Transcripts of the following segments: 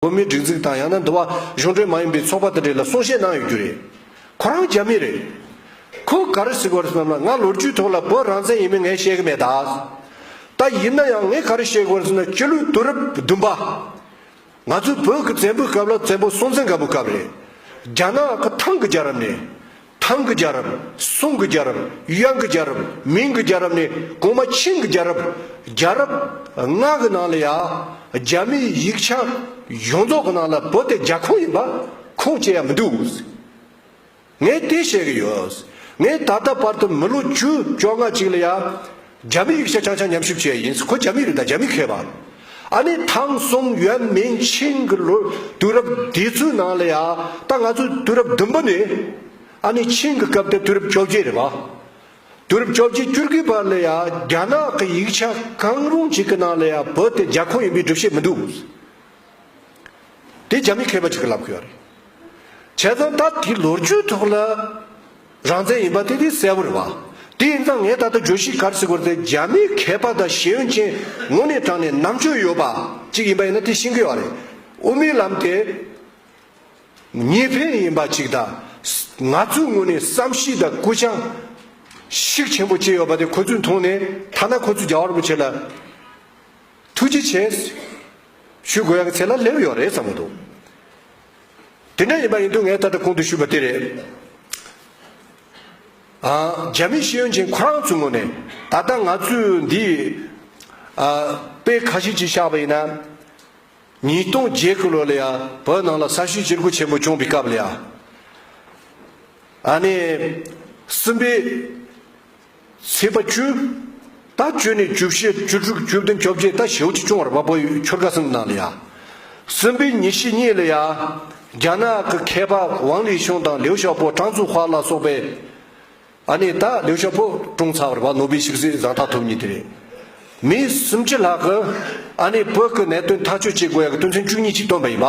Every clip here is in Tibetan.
བོད་མིའི་སྒྲིག་འཛུགས་དང་ཡང་ན་འདུལ་བ་གཞུང་འབྲེལ་མ་ཡིན་པའི་ཚོགས་པ་དེ་འདྲས་ལ་གསུང་བཤད་གནང་ཡོད་རྒྱུ་རེད། ཁོ་རང་རྒྱ་མི་རེད། ཁོ་ག་རེ་ཟེར་དགོས་རེད་བསམ་ན་ང་ལོ་རྒྱུས་ཐོག་ལ་བོད་རང་བཙན་ཡིན་མིན་ངས་བཤད་ཀྱི་མེད་ད། ད་ཡིན་ན་ཡང་ངས་ག་རེ་བཤད་དགོས་རེད་ཟེར་ན་སྤྱི་ལོའི་དུས་རབས་བདུན་པ། ང་ཚོའི་བོད་ཀྱི་བཙན་པོའི་སྐབས་ལ་བཙན་པོ་སྲོང་བཙན་སྒམ་པོའི་སྐབས་རེད། རྒྱ་ནག་གི་ཐང་གི་རྒྱལ་རབས་ནས། ཐང་གི་རྒྱལ་རབས། སུང་གི་རྒྱལ་རབས། ཡོན་གྱི་རྒྱལ་རབས། མིང་གི་རྒྱལ་རབས་ནས་གོང་མ་ཆིང་གི་རྒྱལ་རབས། རྒྱལ་རབས། ལྔ་གི་ནང་ལ་ཡང། རྒྱ་མིའི་ཡིག་ཆ། ཡོངས་རྫོགས་ཀྱི་ནང་ལ་བོད་དེ་རྒྱ་ཁོངས་ཡིན་པ། ཁུངས་སྐྱེལ་ཡ་མི་འདུག། ངས་དེ་བཤད་གི་ཡོད། ངས་ད་ལྟ་བར་དུ་མི་ལོ་བཅུ་བཅོ་ལྔ་ཅིག་ལ་ཡང། རྒྱ་མི་ཡིག་ཆ་ཆང་ཆང་མཉམ་ཞིབ་བྱས་ཡ་ཡིན་ཁོ་རྒྱ་མི་རིགས་དང་རྒྱ་མི་མཁས་པ་ཨ་ནི་ཐང་གསུམ་ཡོན་མིན་ཆིང་གི་ལོ་དུས་རབས་དེ་ཚོའི་ནང་ལ་ཡ་ད་ང་ཚོ་དུས་རབས་བདུན་པ་ནི་ཨ་ནི་ཆིང་གི་སྐབས་དེ་དུས་རབས་བཅོ་བརྒྱད་རེད་བ་དུས་རབས་བཅོ་བརྒྱད་བཅུར་གི་བར་ལ་ཡ་རྒྱ་ནག་གི་ཡིག་ཆ་གང་རུང་ཅིག་གི་ནང་ལ་ཡ་བོད་དེ་རྒྱ་ཁོངས་ཡིན་པའི་སྒྲུབ་བྱེད་མི་འདུག། དེ་རྒྱ་མི་མཁས་པ་གཅིག་གི་ལབ་དགོས་པ་རེད། བྱས་ཙང་ད་དེ་ལོ་རྒྱུས་ཐོག་ལ་རང་བཙན་ཡིན་པ་དེ་དེ་གསལ་བོ་རེད་བ། དེ་ཡིན་ཙང་ངས་ད་ལྟ་བརྗོད་གཞི་གར་གཟིགས་བར་དེ་རྒྱ་མི་མཁས་པ་དང་ཤེས་ཡོན་ཅན་ངོ་ནས་དྲངས་ནས་ནམ་དཔྱོད་ཡོད་པ་གཅིག་ཡིན་པ་ཡིན་ན་དེ་ཤེས་གི་ཡོད་བ་རེད། དབུ་མའི་ལམ་དེ་ངེས་ཕན་ཡིན་པ་གཅིག་ད་ང་ཚོའི་ངོ་ནས་བསམ་གཞིགས་དང་སྐུ་བྱང་ཞིག་ཆེན་པོ་བྱས་ཡོད་པ་དེ་ཁོ་ཚོས་མཐོང་ནས་ཐ་ན་ཁོ་ཚོས་རྒྱ་གར་པོ་བྱེད་ལ་ཐུགས་རྗེ་ཆེ། ཞུ་དགོས་ཡག་བྱས་ན་སླེབས་ཡོད་རེད་བསམ་གྱི་འདུག། དེ་འདྲ་ཡིན་པ་ཡིན་དུས་ངས་ད་ལྟ་གོང་དུ་ཞུས་པ་དེ་རེད། རྒྱ་མིའི་ཤེས་ཡོན་ཅན་ཁོ་རང་ཚོའི་ངོས་ནས་ད་ལྟ་ང་ཚོའི་འདི་དཔེ་ཁ་ཤས་ཅིག་བཞག་པ་ཡིན་ན། ཉིས་སྟོང་བརྒྱད་བརྒྱད་ལོ་ལ་ཡང་བོད་ནང་ལ་ས་བཤུས་བཅིར་རྒོལ་ཆེན་པོ་བྱུང་བའི་སྐབས་ལ་ཡང། ཨ་ནི་སུམ་པའི། ཚེས་པ་བཅུ། ད་བཅུ་ནས་བཅུ་བཞི་བཅུ་དྲུག་བཅུ་བདུན་བཅོ་བརྒྱད་ད་ཞེའུ་ཅི་ཅུང་བར་བ་པོ་ཡུལ་ཁྱོར་དགའ་སེམས་ནང་ལ་ཡ། གསུམ་པའི་ཉིན་ཞིག་གཉིད་ལ་ཡ། རྒྱ་ནག་གི་མཁས་པ་ཝང་ལི་ཤུང་དང་ལིའུ་ཞའོ་པོ་ཀྲང་ཙུའུ་བྷ་ལ་སོགས་པས། ཨ་ནི་ད་ལིའུ་ཞའོ་པོ་ཀྲུང་ཚ་བར་བ་ནོ་བེལ་ཞིག་གཟིགས་བཟང་ཐག་ཐུབ་ཉིན་དེ་རེད། མི་སུམ་ཅུ་ལྷག་གིས་ཨ་ནི་བོད་ཀྱི་གནད་དོན་ཐག་གཅོད་བྱེད་དགོས་ཡག་གི་དོན་ཚན་བཅུ་གཉིས་ཅིག་བཏོན་པ་ཡིན་པ།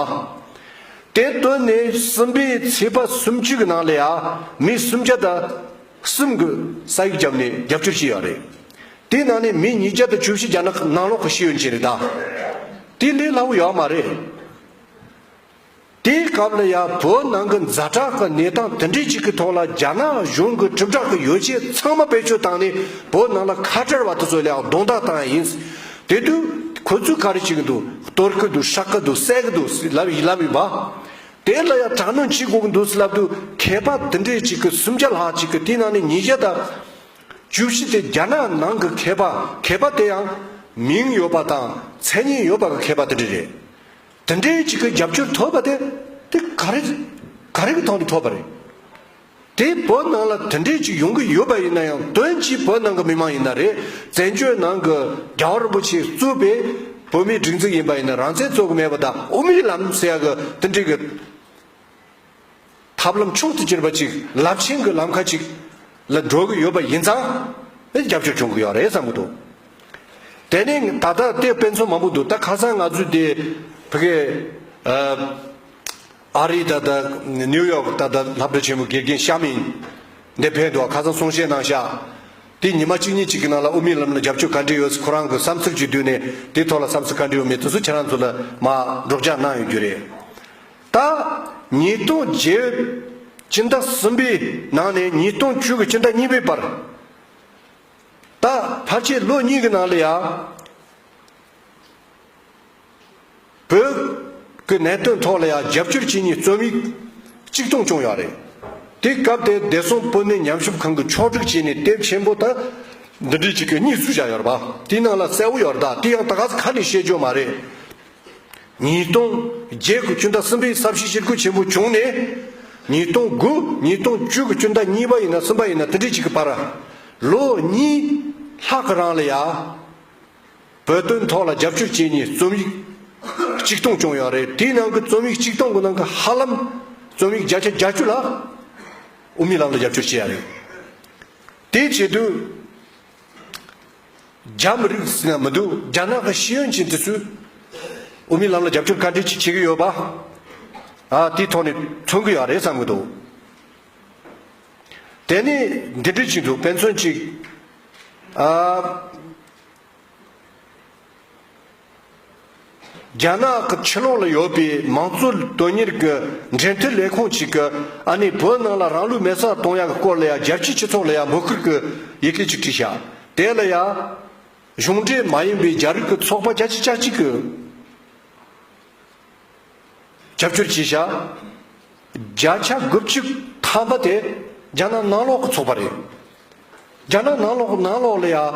དེ་བཏོན་ནས་གསུམ་པའི་ཚེས་པ་སུམ་ཅུ་གི་ནང་ལ་ཡ། མི་སུམ་བརྒྱ་ད། གསུམ་དགོས་ས་ཡིག་བརྒྱབ་ནས་རྒྱབ་སྐྱོར་བྱེད་ཡག་རེད། དེའི་ནང་ནས་མི་ཉིས་བརྒྱ་དང་བཅུ་བཞི་བརྒྱ་ནང་ནང་ལོག་གི་ཤེས་ཡོན་ཅན་རེད་ད། དེ་ལས་སླ་བོ་ཡག་མ་རེད། དེའི་སྐབས་ལ་ཡང་བོད་ནང་གི་མཛའ་གྲགས་ཀྱི་གནས་སྟངས་དེ་འདྲའི་ཅིག་གི་ཐོག་ལ་རྒྱ་ནག་གཞུང་གི་གྲིབ་བསྒྲགས་ཀྱི་ཡོ་བྱད་ཚང་མ་བེད་སྤྱོད་བཏང་ནས་བོད་ནང་ལ་ཁ་བྲལ་བ་དེ་ཚོ་ལའང་རྡུང་རྡེག་བཏང་ཡ་ཡིན། དེ་དུས་ཁོ་ཚོས་ག་རེ་བྱེད་གི་འདུག་གཏོར་གི་འདུག་ཧྲག་གི་འདུག་བསད་གི་འདུག་ལབ་ཡིན་པ། དེ་སླ་ཡ་དྲག་གནོན་བྱེད་དགོས་ཀྱི་འདུག་སླབ་དུ་མཁས་པ་འདི་འདྲས་ཅིག་གི་སུམ་བརྒྱ་ལྷག་ཅིག་གི་དེའི་ནང་ནས་ཉིས་བརྒྱ་དང་བཅུ་བཞི་དེ་རྒྱ་ནག་ནང་གི་མཁས་པ་མཁས་པ་དེ་ཡང་མིང་ཡོད་པ་དང་མཚན་སྙན་ཡོད་པ་གི་མཁས་པ་འདི་འདྲས་རེད། འདི་འདྲས་ཅིག་གི་རྒྱབ་སྐྱོར་ཐོབ་པ་དེ་དེ་ག་རེ་ག་རེ་གི་ཐོག་ནས་ཐོབ་པ་རེད། དེ་བོད་ནང་ལ་དེ་འདྲས་ཅིག་ཡོང་གི་ཡོད་པ་ཡིན་ན་ཡང་དོན་གྱིས་བོད་ནང་གི་མི་མང་ཡིན་ན་རེད་བཙན་བྱོལ་ནང་གི་རྒྱ་བ་རིན་པོ་ཆེས་གཙོས་པའི་བོད་མིའི་སྒྲིག་འཛུགས་ཡིན་པ་ཡིན་ན་རང་བཙན་རྩོད་གི་མེད་པ་དང་དབུ་མའི་ལམ་ཟེར་ཡག་གི་དེ་འདྲས་གི་ཐབས་ལམ་མཆོག་ཏུ་གྱུར་པ་ཅིག་རླབས་ཆེན་གི་ལམ་ཁ་ཅིག་ལ་འགྲོ་གི་ཡོད་པ་ཡིན་ཙང་ཨེ་རྒྱབ་སྐྱོར་བྱུང་གི་ཡོད་རེད་བསམ་གི་འདུག་དེ་ནས་ད་ལྟ་ལྟས་དཔེ་མཚོན་མང་པོ་འདུག་ད་ཁ་སང་ང་ཚོས་དེ་བྷི་གའི་ཨ་རིའི་ད་ལྟ་ནིའུ་ཡོག་ད་ལྟ་ལྷ་བྲོ་ཆེན་མོ་དགེ་རྒན་ཤ་མིན་འདས་ཕན་འགྲོ་བ་ཁ་སང་གསུང་བཤད་གནང་ཤག་དེ་ཉི་མ་གཅིག་གཉིས་གཅིག་གི་ནང་ལ་དབུ་མའི་ལམ་ལ་རྒྱབ་སྐྱོར་ག་འདྲི་ཡོད་ཁོ་རང་གི་བསམ་ཚུལ་གཅིག་བསྡུས་ནས་དེ་ཐོག་ལ་བསམ་ཚུལ་ག་འདྲི་ཡོད་མེད་དུ་སུ་ཁྱེད་རང་ཚོ་ལ་མ་སྒྲོག་སྦྱང་གནང་ཡོད་རྒྱུ་རེད་ད། ཉིས་སྟོང་བརྒྱད། སྤྱི་ཟླ་གསུམ་པའི་ནང་ནས་ཉིས་སྟོང་བཅུ་གི་སྤྱི་ཟླ་གཉིས་པའི་བར་ད་ཕར་ཆེད་ལོ་གཉིས་གི་ནང་ལ་ཡང། བོད་ཀྱི་གནད་དོན་ཐོག་ལ་ཡང་རྒྱབ་སྐྱོར་བྱེད་ཉེས་རྩོམ་ཡིག་གཅིག་གཏོང་བྱུང་ཡང་རེད། དེ་སྐབས་དེར་བདེ་སྲུང་སྤུན་ཟླའི་ཉམས་ཞིབ་ཁང་གི་ཕྱོགས་བསྒྲིགས་བྱས་ནས་དེབ་ཆེན་པོ་དང། འདི་འབྲི་བྱེད་ཀྱི་གཉིས་སུ་བཞག་ཡོད་རེད་པ་དེའི་ནང་ལ་གསལ་བོ་ཡོད་རེད་དེ་ཡང་ད་ག་ས་ཁ་ནས་བཤད་རྒྱུ་མ་རེད། ཉིས་སྟོང་བརྒྱད་གི་སྤྱི་ཟླ་གསུམ་པའི་གསར་བཤད་ཕྱིར་འཁོད་ཆེན་པོ་བྱུང་ནས། ཉིས་སྟོང་དགུ་ཉིས་སྟོང་བཅུ་གི་སྤྱི་ཟླ་གཉིས་པ་ཡིན་ན་གསུམ་པ་ཡིན་ན་དེ་འབྲི་བྱེད་ཀྱི་བར། ལོ་གཉིས་ལྷག་གི་རང་ལ་ཡང། བོད་དོན་ཐོག་ལ་རྒྱབ་སྐྱོར་བྱེད་ནས་རྩོམ་ཡིག་གཅིག་སྟོང་བསྐྱོང་ཡག་རེད་དེའི་ནང་གི་རྩོམ་ཡིག་གཅིག་སྟོང་གི་ནང་གི་ཧ་ལམ་རྩོམ་ཡིག་བརྒྱ་ཆ་བརྒྱ་བཅུ་ལྷག་དབུ་མའི་ལམ་ལ་རྒྱབ་སྐྱོར་བྱེད་ཡག་རེད་དེ་བྱེད་དུས་རྒྱ་མི་རིགས་ཟེར་ན་མི་འདུག་རྒྱ་ནག་གི་ཤེས་ཡོན་ཅན་དེ་ཚོས་དབུ་མའི་ལམ་ལ་རྒྱབ་སྐྱོར་ག་འདྲས་ཅིག་བྱེད་ཀྱི་ཡོད་པ་དེའི་ཐོག་ནས་མཚོན་གྱི་ཡག་རེད་བསམ་གྱི་འདུག། དེ་ནི་འདི་འདྲི་གཅིག་འདུག་དཔེ་མཚོན་གཅིག་ཨ། རྒྱ་ནག་གི་ཕྱི་ལོགས་ལ་ཡོད་པའི་མང་གཙོ་དོན་གཉེར་གྱི་འབྲེལ་མཐུད་ལས་ཁུངས་གཅིག་གི་ཨ་ནི་བོད་ནང་ལ་རང་ལུས་མེ་བསྲགས་གཏོང་ཡག་གི་སྐོར་ལ་ཡང་རྒྱལ་སྤྱིའི་སྤྱི་ཚོགས་ལ་ཡང་འབོད་སྐུལ་གྱི་ཡི་གེ་གཅིག་བྲིས་བཞག་དེ་ལ་ཡང། གཞུང་འབྲེལ་མ་ཡིན་པའི་རྒྱ་རིགས་ཀྱི་ཚོགས་པ་རྒྱ་ཆེ་བཅའ་གཅིག་གི། རྒྱབ་སྐྱོར་གྱིས་བཞག་བརྒྱ་ཆ་དགུ་བཅུ་ཐམ་པ་དེ་རྒྱ་ནག་ནང་ལོག་གི་ཚོགས་པ་རེད། རྒྱ་ནག་ནང་ལོག་ནང་ལོག་ལ་ཡང་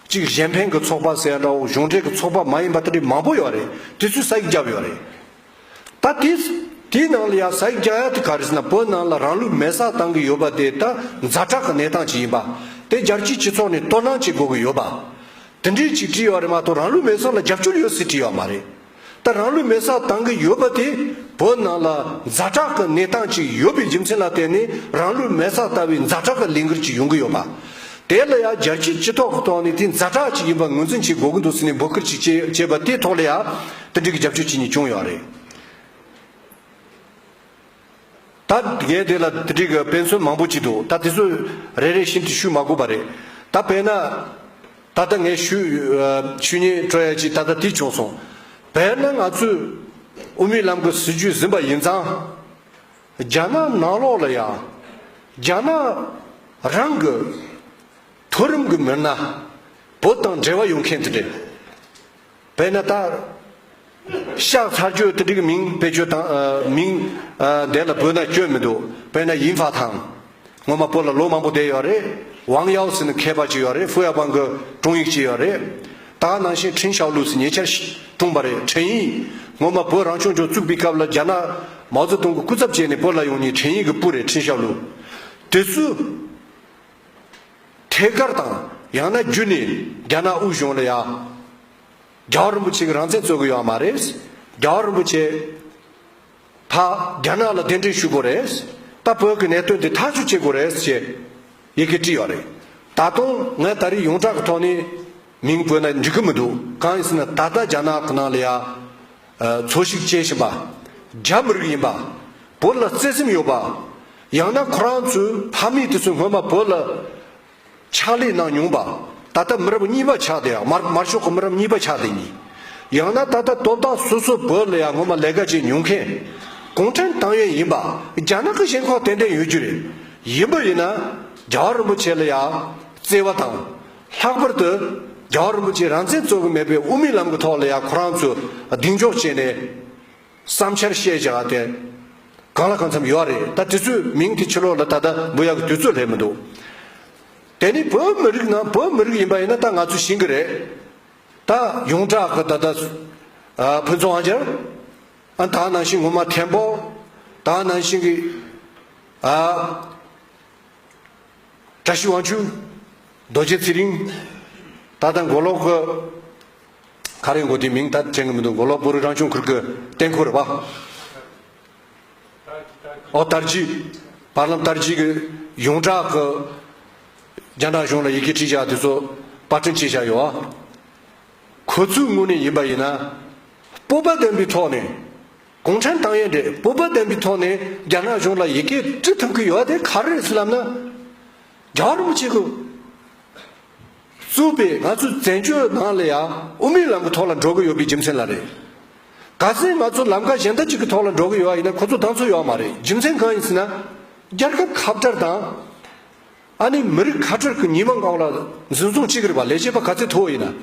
གཅིག་གཞན་ཕན་གྱི་ཚོགས་པ་ཟེར་ཡ་འདྲ་བོ་གཞུང་འབྲེལ་གྱི་ཚོགས་པ་མ་ཡིན་པ་ལྟ་བུ་མང་པོ་ཡོད་རེད་དེ་ཚོས་ས་ཡིག་བརྒྱབ་ཡོད་རེད། ད་དེ་དེའི་ནང་ལ་ཡང་ས་ཡིག་བརྒྱབ་ཡ་དེ་ག་རེ་ཟེར་ན་བོད་ནང་ལ་རང་ལུས་མེ་སྲག་བཏང་གི་ཡོད་པ་དེ་ད་མཛའ་གྲགས་ཀྱི་གནས་སྟངས་ཅིག་ཡིན་པ་དེ་རྒྱལ་སྤྱིའི་སྤྱི་ཚོགས་ནས་དོ་སྣང་བྱེད་དགོས་ཀྱི་ཡོད་པ། དེ་འདྲའི་ཅིག་བྲིས་ཡོད་རེད་མ་གཏོགས་རང་ལུས་མེ་སྲོག་ལ་རྒྱབ་སྐྱོར་ཡོད་ཟེར་བྲིས་ཡོད་མ་རེད། ད་རང་ལུས་མེ་སར་བཏང་གི་ཡོད་པ་དེ་བོད་ནང་ལ་མཛའ་གྲགས་ཀྱི་གནས་སྟངས་ཅིག་ཡོད་པའི་རྒྱུ་མཚན་ལ་བརྟེན་ནས་རང་ལུས་མེ་སར་བཏང་བའི་མཛའ་གྲགས་ཀྱི་ལས་འགུལ་ཅིག་ཡོང་གི་ཡོད་པ། དེ་ལ་ཡང་རྒྱལ་སྤྱིའི་སྤྱི་ཐོག་གི་ཐོག་ནས་དེ་མཛའ་གྲགས་ཅིག་ཡིན་པ་ངོས་འཛིན་བྱེད་དགོས་ཀྱི་འདུག་ཟེར་ནས་འབོད་སྐུལ་ཅིག་བྱས་པ་དེའི་ཐོག་ལ་ཡང་དེ་འབྲེལ་གྱི་རྒྱབ་སྐྱོར་བྱེད་མྱི་བྱུང་ཡོད་རེད། ད་གལ་ཏེ་ལ་དེ་འགྲིག་དཔེ་མཚོན་མང་པོ་བགྱིས་འདུག་ད་དེ་ཚོ་རེ་རེ་བཞིན་དུ་ཞུས་མ་དགོས་པ་རེད། ད་དཔེར་ན། ད་ལྟ་ངས་ཞུས་ཞུས་ཉེས་སྤྲོད་ཡ་གཅིག་ད་ལྟ་དེ་བྱུང་སོང། དཔེར་ན་ང་ཚོས་དབུ་མའི་ལམ་གྱི་སྲིད་བྱུས་ཟིན་པ་ཡིན་ཙང། རྒྱ་ནག་ནང་ལོགས་ལ་ཡང། རྒྱ་ནག་རང་གི་མཐོ་རིམ་གྱི་མི་སྣ་བོད་དང་འབྲེལ་བ་ཡོད་མཁན་དེ་འདྲས། བས་ན་བཏགས། ཤག་ཚར་གཅོད་དེ་འགྲིག་མིང་བེད་སྤྱོད་དང། མིང། བདེ་ལ་བོད་ན་སྐྱོན་མི་འདུག་བས་ན་ཡིན་བྷ་དང། ངོ་མ་པོ་ལ་ལོ་མང་པོ་བསྡད་ཡོད་རེད། ཝང་ཡའོ་སི་ནི་མཁས་པ་ཅིག་ཡོད་རེད་ཧྥུ་ཡ་པང་གི་དྲུང་ཡིག་ཅིག་ཡོད་རེད། ད་ནང་བཞིན་ཁྲིན་ཞའོ་ལུས་སི་ཉེ་ཆར་ཞིག་དྲུང་བ་རེད་ཁྲིན་ཡིག། ངོ་མ་བོད་རང་སྐྱོང་ལྗོངས་བཙུགས་པའི་སྐབས་ལ་རྒྱ་ནག། མའོ་ཙེ་ཏུང་གི་སྐུ་ཚབ་བྱས་ནས་པོ་ལ་ཡོང་ཉིན་ཁྲིན་ཡིག་གི་སྤུ་རེད་ཁྲིན་ཞའོ་ལུས། དེ་སུ། ཐད་ཀར་དང་ཡང་ན་བརྒྱུད་ནས་རྒྱ་ནག་དབུས་གཞུང་ལ་ཡང། རྒྱ་བ་རིན་པོ་ཆེ་གི་རང་བཙན་རྩོད་དགོས་ཡོད་ཨ་མ་རེད། རྒྱ་བ་རིན་པོ་ཆེ། ད་རྒྱ་ནག་ལ་གདན་འདྲེན་ཞུ་དགོས་རེད། ད་བོད་ཀྱི་གནད་དོན་འདི་ཐག་གཅོད་བྱེད་དགོས་རེད་ཅེས། ཡི་གེ་བྲིས་ཡོད་རེད། ད་དུང་ངས་ད་རིས་ཡོངས་གྲགས་ཀྱི་ཐོག་ནས། མིང་བོད་ན་འབྲི་གི་མི་འདུག་གང་ཡིན་ཟེར་ན་ད་ལྟ་རྒྱ་ནག་གི་ནང་ལ་ཡང། འཚོ་གཞིག་བྱེད་བཞིན་པ། རྒྱ་མི་རིགས་ཡིན་པ། བོད་ལ་བརྩེ་སེམས་ཡོད་པ། ཡང་ན་ཁོ་རང་ཚོའི་ཕ་མེས་དེ་ཚོས་སྔོན་མ་བོད་ལ་ཕྱག་ལས་གནང་མྱོང་པ། ད་ལྟ་མི་རབས་གཉིས་པ་ཆགས་དེ་ཡང་མར་མར་ཤོག་གི་མི་རབས་གཉིས་པ་ཆགས་དེ་གཉིས། ཡང་ན་ད་ལྟ་དོ་བདག་སོ་སོ་བོད་ལ་ཡང་སྔོན་མ་ལས་ཀ་བྱས་མྱོང་མཁན། གུང་ཁྲན་ཏང་ཡོན་ཡིན་པ་རྒྱ་ནག་གི་ཞེན་ཁོག་ཏན་ཏན་ཡོད་རྒྱུ་རེད། ཡིན་པ་ཡིན་ན་རྒྱ་གར་རིན་པོ་ཆེ་ལ་ཡང་བརྩེ་བ་དང། ལྷག་པར་དུ་རྒྱལ་བ་རིན་པོ་ཆེས་རང་བཙན་རྩོད་གི་མེད་པའི་དབུ་མའི་ལམ་གི་ཐོག་ལ་ཡང་ཁོ་རང་ཚོས་གདེང་འཇོག་བྱས་ནས་བསམ་འཆར་བཤད་བྱ་བ་དེ་གང་ལ་གང་འཚམ་ཡོད་རེད་ད་དེ་ཚོའི་མིང་དེ་ཕྱི་ལོགས་ལ་ད་ལྟ་འབུ་ཡག་གི་དུས་ཚོད་སླེབས་མི་འདུག་དེ་ནི་བོད་མི་རིགས་ནང་བོད་མི་རིགས་ཡིན་པ་ཡིན་ན་ད་ང་ཚོས་ཞིང་གི་རེད་ད་ཡོངས་གྲགས་ཀྱི་ད་ལྟ་ཕུན་ཚོགས་ཨ་ཅར་ཨ་དང་ནང་བཞིན་ངོ་མ་ཐེན་པོ་དང་ནང་བཞིན་གྱི་ཨ། བཀྲ་ཤིས་དབང་ཕྱུག། རྡོ་རྗེ་ཚེ་རིང། ད་ལྟ་མགོ་ལོག་གི། ཁ་རས་མགོ་དེའི་མིང་ད་དྲན་གི་མི་འདུག་མགོ་ལོག་སྤོ་རུ་རང་བྱུང་ཁུལ་གྱི་རྟེན་འཁོར་རེད་པཱ། ཨོ་དར་རྒྱུད། བར་ལམ་དར་རྒྱུད་ཀྱི་ཡོངས་གྲགས་ཀྱི། རྒྱ་ནག་གཞུང་ལ་ཡི་གེ་བྲིས་བཞག་དེ་ཚོ་པར་སྐྲུན་བྱས་བཞག་ཡོད་ཨ། ཁོ་ཚོའི་ངོས་ནས་ཡིན་པ་ཡིན་ན། སྤོབས་པ་ལྡན་པའི་ཐོག་ནས། གུང་ཁྲན་ཏང་ཡོན་འདྲེས་པོ་དཔལ་ལྡན་པའི་ཐོག་ནས་རྒྱ་ནག་གཞུང་ལ་ཡི་གེ་འབྲི་ཐུབ་ཀྱི་ཡོད་དེ་ག་རེ་རེད་ལབ་ན། རྒྱ་གར་རིན་པོ་ཆེ་གིས་བཙུགས་པའི་ང་ཚོའི་བཙན་བྱོལ་ནང་ལ་ཡང་དབུ་མའི་ལམ་གྱི་ཐོག་ལ་འགྲོ་གི་ཡོད་པའི་རྒྱུ་མཚན་ལ་རེད། ག་ཚད་ང་ཚོ་ལམ་ཁ་གཞན་དག་ཅིག་གི་ཐོག་ལ་འགྲོ་གི་ཡོད་ཡིན་ན་ཁོ་ཚོ་ལྡང་ཚོད་ཡོད་མ་རེད་རྒྱུ་མཚན་གང་ཡིན་ཟེར་ན། རྒྱལ་ཁབ་ཁ་བྲལ་དང། ཨ་ནི་མི་རིགས་ཁ་བྲལ་གྱི་ཉི་མ་འགག་ལ་འཛིན་བཟུང་བྱེད་ཀྱི་རེད་པ་ལས་བྱེད་པ་ག་ཚད་མཐོ་བོ་ཡིན་ན་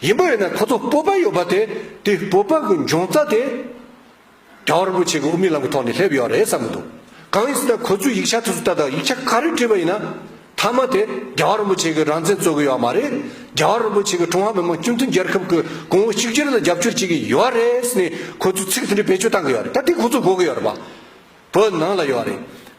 ཡིན་པ་ཡིན་ན་ཁོ་ཚོ་སྤོབས་པ་ཡོད་པ་དེ་དེ་སྤོབས་པ་གྱི་འབྱུང་རྩ་དེ་གྲྭ་བ་རིན་པོ་ཆེ་གྱི་དབུ་མའི་ལམ་གྱི་ཐོག་ནས་སླེབས་ཡོད་རེད་བསམ་གྱི་འདུག་གང་ཡིན་ཟེར་ན་ཁོ་ཚོས་ཡིག་ཆ་དེ་ཚོ་ལྟ་དང་ཡིག་ཆ་ག་རེ་བྲིས་པ་ཡིན་ན་མཐའ་མ་དེ་རྒྱ་བ་རིན་པོ་ཆེ་གྱི་རང་བཙན་རྩོད་གི་ཡོད་མ་རེད་རྒྱ་བ་རིན་པོ་ཆེ་གྱི་ཀྲུང་ཧྭ་མི་དམངས་སྤྱི་མཐུན་རྒྱལ་ཁབ་གྱི་གོང་བུ་གཅིག་གྱུར་ལ་རྒྱབ་སྐྱོར་བྱེད་ཀྱི་ཡོད་རེད་ཟེར་ནས་ཁོ་ཚོས་ཚིག་དེ་འདྲ་བེད་སྤྱོད་བཏང་གི་ཡོད་རེད་ད་དེ་ཁོ་ཚོ་གོ་གི་ཡོད་རེད་བ་བོད་ནང་ལ་ཡོད་རེད།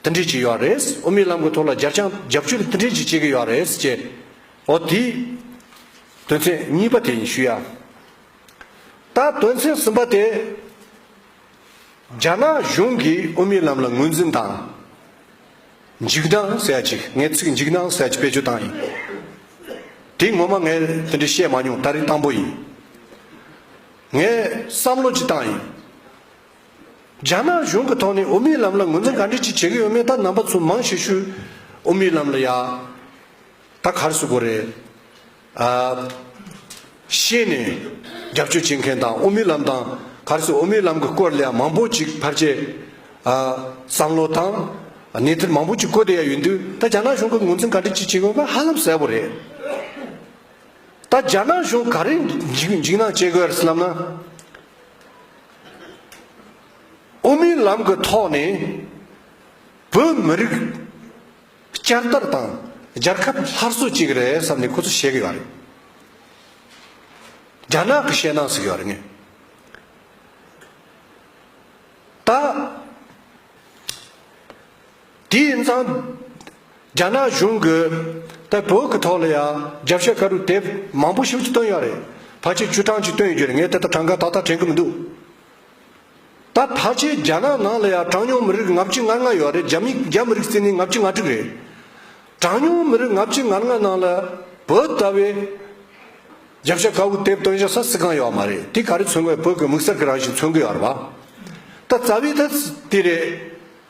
མཐུན་སྒྲིལ་བྱས་ཡོད་རེད། དབུ་མའི་ལམ་གྱི་ཐོག་ལ་རྒྱ་བསྐྱངས་རྒྱབ་སྐྱོར་མཐུན་སྒྲིལ་གྱིས་བྱེད་ཀྱི་ཡོད་རེད་ཅེས་འོ་དེའི་དོན་ཚན་གཉིས་པ་དེ་ཡིན་ཞུ་ཡ། ད་དོན་ཚན་གསུམ་པ་དེ། རྒྱ་ནག་གཞུང་གིས་དབུ་མའི་ལམ་ལ་ངོས་འཛིན་དང། འཇིགས་སྣང་སེལ་བྱེད་ཀྱི་ངའི་ཚིག་འཇིགས་སྣང་སེལ་བྱེད་བེད་སྤྱོད་བཏང་ཡིན། དེ་ངོ་མ་ངས་དེ་འདྲའི་བཤད་མ་མྱོང་ད་རིང་བཏང་པོ་ཡིན། ངས་བསམ་བློ་གྱིས་བཏང་ཡིན། རྒྱ་ནག་གཞུང་གི་ཐོག་ནས་དབུ་མའི་ལམ་ལ་ངོས་འཛིན་ག་འདྲས་ཅིག་བྱེད་ཀྱི་ཡོད་མེད་ད་ནང་པ་ཚོས་མང་ཤོས་ཤོས་དབུ་མའི་ལམ་ལ་ཡ་ད་གར་སུ་དགོ་རེད་ཨ། ཤེས་ནས་རྒྱབ་སྐྱོར་བྱེད་མཁན་དང་དབུ་མའི་ལམ་དང་གར་སུ་དབུ་མའི་ལམ་གི་སྐོར་ལ་ཡ་མང་པོ་ཅིག་ཕར་ཆེར་ཨ་བསམ་བློ་དང་གནས་ཚུལ་མང་པོ་ཅིག་བཀོད་དེ་ཡ་ཡོད་འདུག་ད་རྒྱ་ནག་གཞུང་གི་ངོས་འཛིན་ག་འདྲས་ཅིག་བྱེད་ཀྱི་ཡོད་པ་ཧ་ལམ་གསལ་པོ་རེད། ད་རྒྱ་ནག་གཞུང་ག་རེ་འཇིགས་སྣང་སྐྱེ་དགོས་ཡ་རེད་སེམས་ལབ་ན། དབུ་མའི་ལམ་གྱི་ཐོག་ནས་བོད་མི་རིགས་བསྐྱར་དར་དང་རྒྱལ་ཁབ་སླར་གསོ་བྱེད་ཀྱི་རེད་བསམ་ནས་ཁོ་ཚོ་བཤད་ཀྱི་ཡོད་རེད། རྒྱ་ནག་གི་བཤད་སྟངས་ཟིག་ཡོད་རེད་ངས་ད། དེ་ཡིན་ཙང། རྒྱ་ནག་གཞུང་གིས་ད་བོད་ཀྱི་ཐོག་ལ་ཡང་རྒྱབ་ཤ་ཁ་རུ་དེབ་མང་པོ་ཞིག་བཏོན་ཡོད་རེད། ཕལ་ཆེར་བཅུ་གྲངས་ཅིག་བཏོན་ཡོད་རེད་ངས་དེ་དག་གྲངས་ཀ་ཏག་ཏག་དྲན་གི་མི་འདུག། ད་ཕལ་ཆེར་རྒྱ་ནག་ནང་ལ་ཡང་གྲངས་ཉུང་མི་རིགས་ང་བཅུ་ང་ལྔ་ཡོད་རེད་རྒྱ་མི་རྒྱ་མི་རིགས་བརྩིས་ནས་ང་བཅུ་ང་དྲུག་རེད། གྲངས་ཉུང་མི་རིགས་ང་བཅུ་ང་ལྔ་ནང་ལ་བོད་ལྟ་བུའི་རྒྱབ་ཤ་ཁ་བུ་དེབ་བཏོན་བཞག་ས་སི་གང་ཡོད་མ་རེད་དེ་ག་རེ་མཚོན་དགོས་བོད་ཀྱི་མིག་གསར་གྱི་རང་བཞིན་མཚོན་གི་ཡོད་རེད་བ། ད་རྩ་བའི་ཐ་ཚིག་དེ་རེད།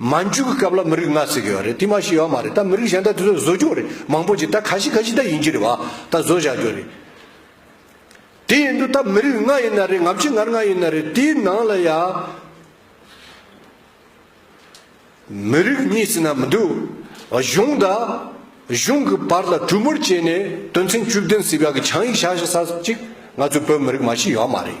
མ་འཇུག་གི་སྐབས་ལ་མི་རིགས་ལྔ་ཟེར་གྱི་ཡོད་རེད་དེ་མ་ཤེས་ཡོད་མ་རེད་ད་མི་རིགས་གཞན་དག་དེ་ཚོ་བཟོ་རྒྱུ་རེད་མང་པོ་ཅིག་ད་ག་ཤི་ག་ཤི་ད་ཡིན་གྱི་རེད་བ་ད་བཟོ་བཞག་རྒྱུ་རེད། དེ་ཡིན་དུ་ད་མི་རིགས་ལྔ་ཡིན་ན་རེད་ང་ཕྱི་ངར་ལྔ་ཡིན་ན་རེད་དེའི་ནང་ལ་ཡ། མི་རིགས་གཉིས་ཟེར་ན་མི་འདུག་གཞུང་དང་གཞུང་གི་བར་ལ་གྲུ་མུར་བྱས་ནས་དོན་ཚན་བཅུ་བདུན་སྲིད་བྱ་གི་ཆང་ཡིག་བཞག་བཞག་ས་ཅིག་ང་ཚོའི་བོད་མི་རིགས་མ་ཤེས་ཡོད་མ་རེད།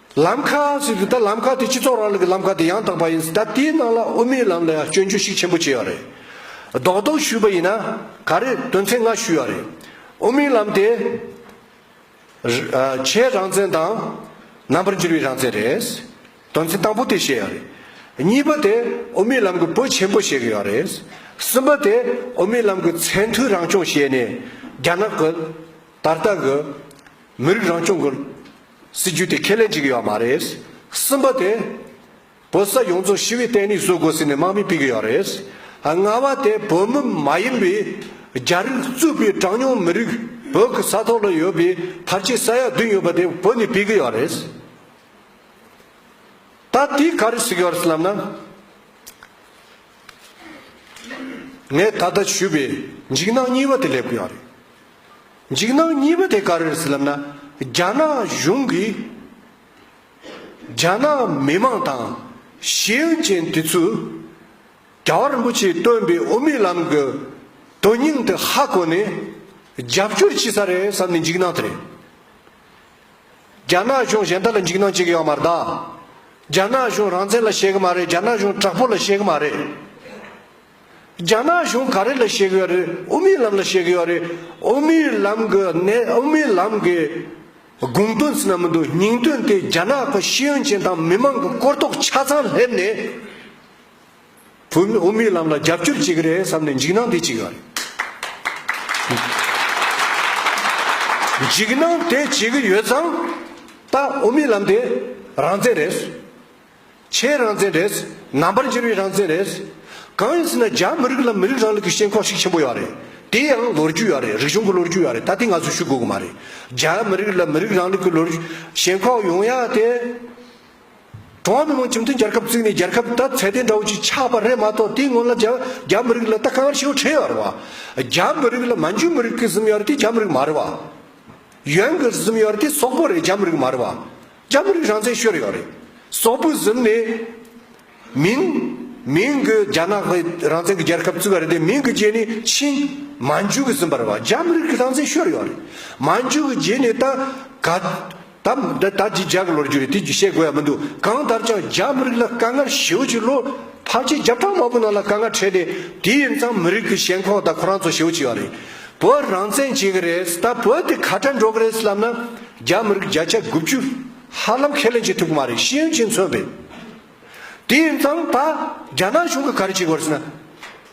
ལམ་ཁ་ཟེར་གི་ད་ལམ་ཁ་དེ་སྤྱི་ཚོགས་རང་ལུགས་ཀྱི་ལམ་ཁ་དེ་ཡང་དག་པ་ཡིན་ཟེར་ད་དེའི་ནང་ལ་དབུ་མའི་ལམ་ལ་ཡང་སྐྱོན་བརྗོད་ཤིག་ཆེན་པོ་བྱས་ཡོད་རེད། རྡོག་རྡོག་ཞུས་པ་ཡིན་ན་ག་རེད་དོན་ཚན་ལྔ་ཞུས་ཡོད་རེད། དབུ་མའི་ལམ་དེ། བྱའི་རང་བཙན་དང། རྣམ་པར་འགྱུར་བའི་རང་བཙན་རེད། དོན་ཚན་དང་པོ་དེ་བཤད་ཡོད་རེད། གཉིས་པ་དེ་དབུ་མའི་ལམ་གྱི་བོད་ཆེན་པོ་བཤད་གི་ཡོད་རེད། གསུམ་པ་དེ་དབུ་མའི་ལམ་གྱི་ཚད་མཐོའི་རང་སྐྱོང་བཤད་ནས་རྒྱ་ནག་གི། ད་ལྟ་གི། མི་རིགས་རང་སྐྱོང་གི། སྲིད་ཇུས་དེ་ཁས་ལེན་བྱེད་ཀྱི་ཡོད་མ་རེད། གསུམ་པ་དེ། བོད་ས་ཡོངས་རྫོགས་ཞི་བའི་སྟེང་ནས་བཟོ་དགོས་ཟེར་ནས་དམག་མི་སྤེལ་གྱི་ཡོད་རེད། ལྔ་བ་དེ་བོད་མི་མ་ཡིན་པའི་རྒྱ་རིགས་གཙོས་པའི་གྲངས་ཉུང་མི་རིགས་བོད་ཀྱི་ས་ཐོག་ལ་ཡོད་པའི་བར་ཆད་ས་ཡ་བདུན་ཡོད་པ་དེ་བོད་ནས་སྤེལ་གྱི་ཡོད་རེད། ད་དེ་ག་རེ་ཟེར་གྱི་ཡོད་རེད་ལབ་ན། ངས་ད་ལྟ་ཞུས་པའི་འཇིགས་སྣང་གཉིས་པ་དེ་སླེབས་ཀྱི་ཡོད་རེད། འཇིགས་སྣང་གཉིས་པ་དེ་ག་རེ་རེད་ལབ་ན་རྒྱ་ནག་གཞུང་གིས་རྒྱ་ནག་མི་མང་དང་ཤེས་ཡོན་ཅན་དེ་ཚོས་རྒྱལ་བ་རིན་པོ་ཆེས་སྟོན་པའི་དབུ་མའི་ལམ་གྱི་དོན་སྙིང་དེ་ཧ་གོ་ནས་རྒྱབ་སྐྱོར་བྱེད་ས་རེད་བསམ་ནས་འཇིགས་སྣང་དེ་རེད། རྒྱ་ནག་གཞུང་གཞན་དག་ལ་འཇིགས་སྣང་བྱེད་གི་ཡོད་མ་རེད་ད། རྒྱ་ནག་གཞུང་རང་བཙན་ལ་བཤད་གི་མ་རེད་རྒྱ་ནག་གཞུང་དྲག་པོ་ལ་བཤད་གི་མ་རེད། རྒྱ་ནག་གཞུང་ག་རེ་ལ་བཤད་གི་ཡོད་རེད་དབུ་མའི་ལམ་ལ་བཤད་གི་ཡོད་རེད་དབུ་མའི་ལམ་གི་གནད་དབུ་མའི་ལམ་གི་དགོངས་དོན་ཚིག་ན་མི་འདུག་སྙིང་དོན་དེ་རྒྱ་ནག་གི་ཤེས་ཡོན་ཅན་དང་མི་མང་གི་གོ་རྟོགས་ཆ་ཚང་སླེབས་ནས་བུ་མོས་དབུ་མའི་ལམ་ལ་རྒྱབ་སྐྱོར་བྱེད་གི་རེད་བསམ་ནས་འཇིགས་སྣང་དེ་བྱེད་གི་ཡོད་རེད། འཇིགས་སྣང་དེ་བྱེད་གི་ཡོད་ཙང་ད་དབུ་མའི་ལམ་དེ་རང་བཙན་རེད། ཆའི་རང་བཙན་རེད། རྣམ་པར་འགྱུར་བའི་རང་བཙན་རེད། གང་ཡིན་ཟེར་ན་རྒྱ་མི་རིགས་ལ་མི་རིགས་རང་ལུགས་ཀྱི་ཤེས་ཁོག་ཤིག་ཆེན་པོ་ཡོད་རེད། དེ་ཡང་ལོ་རྒྱུས་ཡོད་རེད་རིག་གཞུང་གི་ལོ་རྒྱུས་ཡོད་རེད་ད་ལྟའི་ང་ཚོས་ཞུ་དགོས་ཀྱི་མ་རེད། རྒྱ་མི་རིགས་ལ་མི་རིགས་རང་ལུགས་ཀྱི་ལོ་ཤེས་ཁོག་ཡོང་ཡག་དེ། ཀྲུང་ཧྭ་མི་དམངས་སྤྱི་མཐུན་རྒྱལ་ཁབ་བཙུགས་ནས་རྒྱལ་ཁབ་ད་ཚད་ལྡན་འདྲ་བོ་ཅིག་ཆགས་པ་རེད་མ་གཏོགས་དེའི་སྔོན་ལ་རྒྱ་རྒྱ་མི་རིགས་ལ་ད་གང་ཡང་ཤེས་བྱ་ཁྲེལ་ཡོད་རེད་བ། རྒྱ་མི་རིགས་ལ་མ་འཇུ་མི་རིགས་ཀྱི་གཟིམ་ཡོད་རེད་དེ་རྒྱ་མི་རིགས་མ་རེད་བ། ཡོན་གྱི་གཟིམ་ཡོད་རེད་དེ་སོག་པོ་རེད་རྒྱ་མི་རིགས་མ་རེད་བ། སྐྱ་བོ་རིགས་རང་བཙན་ཤོར་ཡོད་རེད། སོག་པོའི་གཟུགས་ནས། མིན། མིན་གྱི་རྒྱ་ནག་གི་རང་བཙན་གྱི་རྒྱལ་ཁབ་བཙུགས་པ་རེད་དེ་མིན་གྱི་རྗེས་ནས་ཕྱིན། མན་ཇུ་གྱི་གསུམ་པ་རེད་བ། རྒྱ་མི་རིགས་ཀྱི་རང་བཙན་ཤོར་ཡོད་རེད། མན་ཇུ་གྱི་རྗེས་ནས་ད། ག། ད། འདི་ད་ཅི་རྒྱག་གི་ལོ་རྒྱུས་རེད་དེ་བཤད་དགོས་ཡ་མི་འདུག་གང་ལྟར་ཀྱང་རྒྱ་མི་རིགས་ལ་དཀའ་ངལ་ཞེའུ་ཆི་ལོ། ཕར་ཆེར་བརྒྱ་ཕྲག་མང་པོའི་ནང་ལ་དཀའ་ངལ་འཕྲད་དེ། དེ་ཡིན་ཙང་མི་རིགས་ཀྱི་ཞེན་ཁོག་དང་ཁོ་རང་ཚོ་ཞེའུ་ཆི་ཡོད་རེད། བོད་རང་བཙན་བྱེད་གི་རེད་ད་བོད་དེ་ག་དྲན་འགྲོ་གི་རེད་ལབ་ན། རྒྱ་མི་རིགས་བརྒྱ་ཆ་དགུ་བཅུ་ཧ་ལམ་ཁས་ལེན་བྱེད་ཐུབ་ཀྱི་མ་རེད་ཤེས་ཡོན་ཅན་མཚོན་པའི། དེ་ཡིན་ཙང་ད་རྒྱ་ནག་གཞུང་གི་གར་གྱི་སྐོར་ཟེར་ན།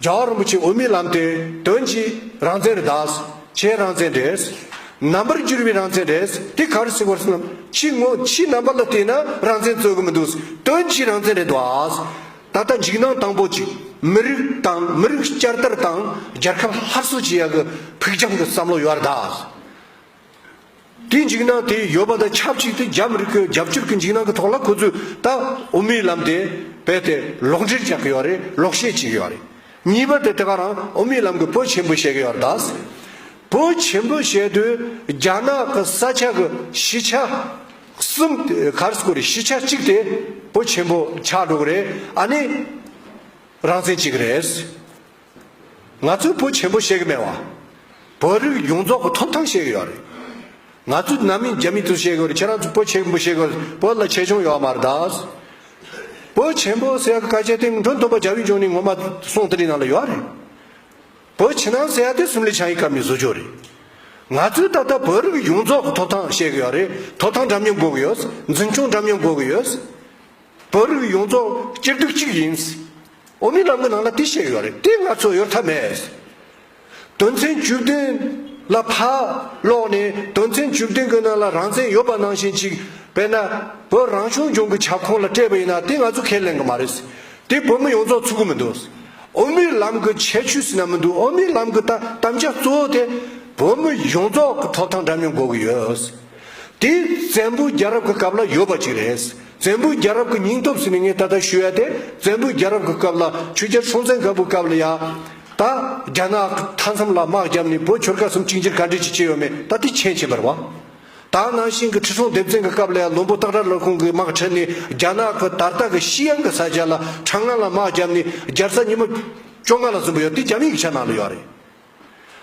རྒྱ་བ་རིན་པོ་ཆེ་འོས་མི་ལམ་དེ་དོན་གྱི་རང་བཙན་རེད་དྭགས་ཆའི་རང་བཙན་རེད། ནང་པར་འགྱུར་བའི་རང་བཙན་རེད་དེ་གར་སི་སྐོར་ཟེར་ན་ཕྱི་ངོ་ཕྱི་རྣམ་པ་ལ་བལྟས་ན་རང་བཙན་རྩོད་གི་མི་འདུག་དོན་གྱི་རང་བཙན་རེད་དྭགས། ད་ལྟ་འཇིགས་སྣང་དང་པོ་གཅིག་མི་རིགས་དང་མི་རིགས་བསྐྱར་དར་དང་རྒྱལ་ཁབ་སླར་གསོ་བྱེད་ཡག་གི་ཕུགས་རྒྱང་གི་བསམ་བློ་ཡོད་རེད་དྭགས། དེའི་འཇིགས་སྣང་དེ་ཡོད་པ་དང་ཆབས་ཅིག་ཏུ་རྒྱ་མི་རིགས་ཁོའི་རྒྱབ་སྐྱོར་གྱི་འཇིགས་སྣང་གི་ཐོག་ལ་ཁོ་ཚོས་ད་དབུ་མའི་ལམ་དེ་རྦད་དེ་ལོག་འགྲེལ་རྒྱག་གི་ཡོད་རེད་ལོག་བཤད་བྱེད་ཀྱི་ཡོད་རེད། གཉིས་པ་དེ་དེ་ག་རང་དབུ་མའི་ལམ་གྱི་བོད་ཆེན་པོ་བཤད་ཀྱི་ཡོད་རེད་ད། བོད་ཆེན་པོ་བཤད་དུས་རྒྱ་ནག་གི་ས་ཆ་གི་གཞིས་ཆགས་གསུམ་གར་སྐོར་གཞིས་ཆགས་གཅིག་དེ་བོད་ཆེན་པོ་ཆགས་འགྲོ་གི་རེད་ཨ་ནི་རང་བཙན་བྱེད་ཀྱི་རེད། ང་ཚོས་བོད་ཆེན་པོ་བཤད་གི་མེད་བ། བོད་རིགས་ཡོངས་རྫོགས་ཀྱི་ཐོབ་ཐང་བཤད་གི་ཡོད་རེད། ང་ཚོས་ནང་མི་རྒྱ་མི་ཚོས་བཤད་གི་ཡོད་རེད་ཁྱེད་རང་ཚོས་བོད་ཆེན་པོ་བཤད་གི་ཡོད་བོད་ལ་ཆེ་ཆུང་ཡོད་མ་རེད་ད། བོད་ཆེན་པོ་ཟེར་ཡག་གི་སྐད་ཆ་དེ་མགྲོན་སྟོན་པ་རྒྱ་བོད་ལྗོངས་ནས་ངོ་མ་སོང་དེ་རིང་ནང་ལ་ཡོད་རེད། བོད་ཕྱི་ནང་ཟེར་ཡག་དེ་སིམ་ལི་བྱང་གི་སྐབས་ནས་བཟོ་རྒྱུ་རེད། ང་ཚོས་ད་ལྟ་བོད་རིགས་ཡོངས་རྫོགས་ཀྱི་ཐོབ་ཐང་བཤད་གི་ཡོད་རེད་ཐོབ་ཐང་འདྲ་མཉམ་དགོས་གི་ཡོད། འཛིན་སྐྱོང་འདྲ་མཉམ་དགོས་གི་ཡོད། བོད་རིགས་ཡོངས་རྫོགས་སྤྱིར་སྡུག་གཅིག་ཡིན། འོ་མའི་ལམ་གྱི་ནང་ལ་དེ་བཤད་ཡོད་རེད་དེ་ང་ཚོ་ཡོད་ཐབས་མེད། དོན་ཚན་བཅུ་བདུན་ལ་ཕར་ཀློག་ནས་དོན་ཚན་བཅུ་བདུན་གྱི་ནང་ལ་རང་བཙན་ཡོད་པ་ནང་བཞིན་གཅིག་དཔེར་ན་བོད་རང་སྐྱོང་ལྗོངས་ཀྱི་ཁྱབ་ཁོངས་ལ་སྤྲད་པ་ཡིན་ན་དེ་ང་ཚོ་ཁས་ལེན་གྱི་མ་རེད། དེ་བོད་མི་ཡོངས་རྫོགས་ཚུགས་ཀྱི་མི་འདུག་འོ་མའི་ལམ་གྱི་ཁྱད་ཆོས་ཟེར་ན་མི་འདུག་འོ་མའི་ལམ་གྱི་དམ་བཅའ་གཙོ་བོ་དེ་བོད་མི་ཡོངས་རྫོགས་ཀྱི་ཐོབ་ཐང་འདྲ་མཉམ་དགོས་ཀྱི་ཡོད། དེ་བཙན་པོ་རྒྱལ་རབས་ཀྱི་སྐབས་ལ་ཡོད་པ་གཅིག་རེད། བཙན་པོའི་རྒྱལ་རབས་ཀྱི་སྙིང་སྟོབས་སུ་ནི་ངས་ད་ལྟ་ཞུ་ཡ་དེ་བཙན་པོའི་རྒྱལ་རབས་ཀྱི་སྐབས་ལ་ཆུ་རྒྱལ་སྲོང་བཙན་སྒམ་པོའི་སྐབས་ལ་ཡང། ད། རྒྱ་ནག་མཐའ་མཚམས་ལ་དམག་བརྒྱབ་ནས་བོད་ཆོལ་ཁ་གསུམ་གཅིག་འགྱུར་ག་འདྲས་ཅིག་བྱས་ཡོད་མེད་ད་ཐེག་ཆེན་བྱེད་པར་བ། ད་ནང་ཤིང་གི་ཁྲི་སྲོང་ལྡེ་བཙན་གྱི་སྐབས་ལ་ཡང་ལུང་པོ་སྟག་སྒྲ་ལོར་ཁོང་གིས་དམག་ཁྲིད་ནས་རྒྱ་ནག་གི་དར་སྟག་གི་ཤི་ཡང་གི་ས་ཆ་ལ་ཁྲ་རྔ་ལ་དམག་བརྒྱབ་ནས་རྒྱལ་ས་ཉི་མ། བཅོ་ལྔ་ལ་ཟིན་པོ་ཡོད་དེ་རྒྱ་མི་ཡིག་ཆ་ནང་ལ་ཡོད་རེད།